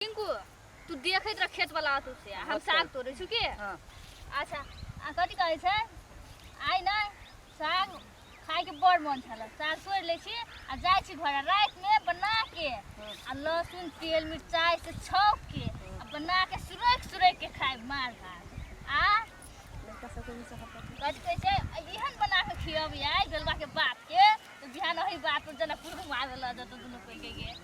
टिंकू तू देखैत रह खेत वाला आतू से हम अच्छा। साग तोड़े छु के हाँ अच्छा आ कथी कहै छै आइ नै साग खाय के बड़ मन छल साग तोड़ि लै छी आ जाइ छी घर रात में बना के हाँ। आ लहसुन तेल मिरचाई से छौक के आ बना के सुरैक सुरैक के खाय मार भात आ लड़का सबके भी सब पता कथी कहै छै आ एहन बना के खियब आइ बेलबा के बाप के तऽ बिहान ओही बात पर जनकपुर घुमा देला जतऽ दुनू कोई के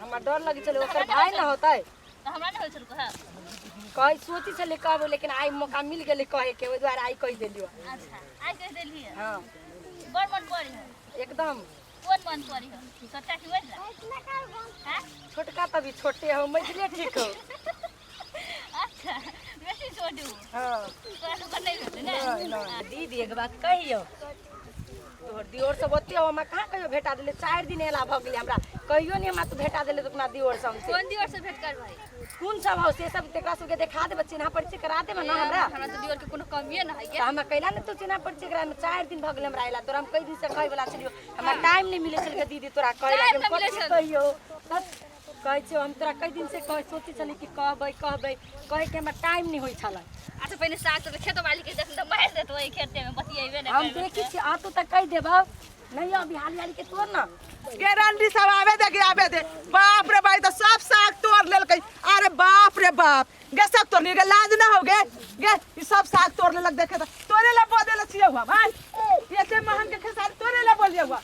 हमरा डर लगे चले ओकर भाई ना होता है तो हमरा नहीं होय छल कहे कहे सोची चले कब लेकिन आई मौका मिल गेले कहे के ओहि द्वारा आई कह देलियो अच्छा आइ कहि देली है हाँ बड़ मन पड़ी है एकदम कोन मन पड़ी है छोटा की वजह हैं छोटका तभी छोटे हो मजले ठीक हो अच्छा बेसी छोडू हां तोरा तो पता ही होते ना नहीं नहीं दीदी एक बात कहियो तोहर दियोर सब ओते हो हमरा कहाँ कहियो भेटा देले चारि दिन एला भऽ गेलै हमरा कहियो नहि हमरा तू भेटा देले तोरा दियोर सब से कौन दियोर से भेंट कर भाई कोन सब हो से सब तेकरा सबके देखा देबे चिन्हा परिचय करा देबे ना हमरा हमरा तो दियोर के कोनो कमिए ना है तऽ हमरा कैला ने तू चिन्हा परिचय करा में चारि दिन भऽ गेलै हमरा एला तोरा हम कई दिन से कहै वाला छलियो हमरा टाइम नहि मिलै छलै दीदी तोरा कहै Time लागि नहि मिलै कथी छल। कहियो कहै छियौ हम तोरा कई दिन से कह सोचै छली कि कहबै कहबै कहै के हमरा टाइम नहीं होई छला अच्छा पहले सास से खेत वाली के जखन मार देत वही खेते में बतियेबे ना हम देखी छी आ तो तक कह देबा नहीं अभी हाली हाली के तोड़ ना गारंटी सब आवे दे के आवे दे बाप रे भाई तो सब साग तोड़ लेलकै अरे बाप रे बाप गे सब तोड़ लेलकै लाज ना हो गे गे ई सब साग तोड़ लेलक देखे तो तोरे ला बोले ला छिए हुआ भाई एते महंग के खेसारी तोरे ला बोलिए हुआ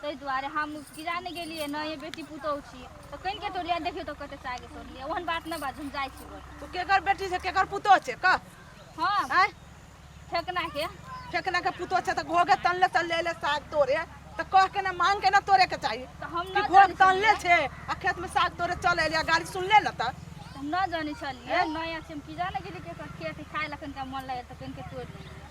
ताहि दुआरे हम किरा नहि गेलियै ने ये बेटी पुतहु छी तऽ कनि के तोड़लियै देखियौ तऽ कते सागे तोड़लियै ओहन बात नहि बाज हम जाइ छी घर। तू केकर बेटी छै केकर पुतोह छै कह हँ आँय ठेकना के फेकना के पुतोह छै तऽ घोगे तनले तनले एले साग तोड़े तऽ कह के ने मांग के ने तोड़े के चाही तऽ हम कि न घोग जानै तनले छलियै। छै आ खेत में साग तोड़े चल एलिया गाड़ी सुनले न तऽ हम न जानै छलियै नया छै हम किरा नहि गेलियै केकर खेत खाय लखन का मन लगै तऽ कनि के तोड़ि लेलियै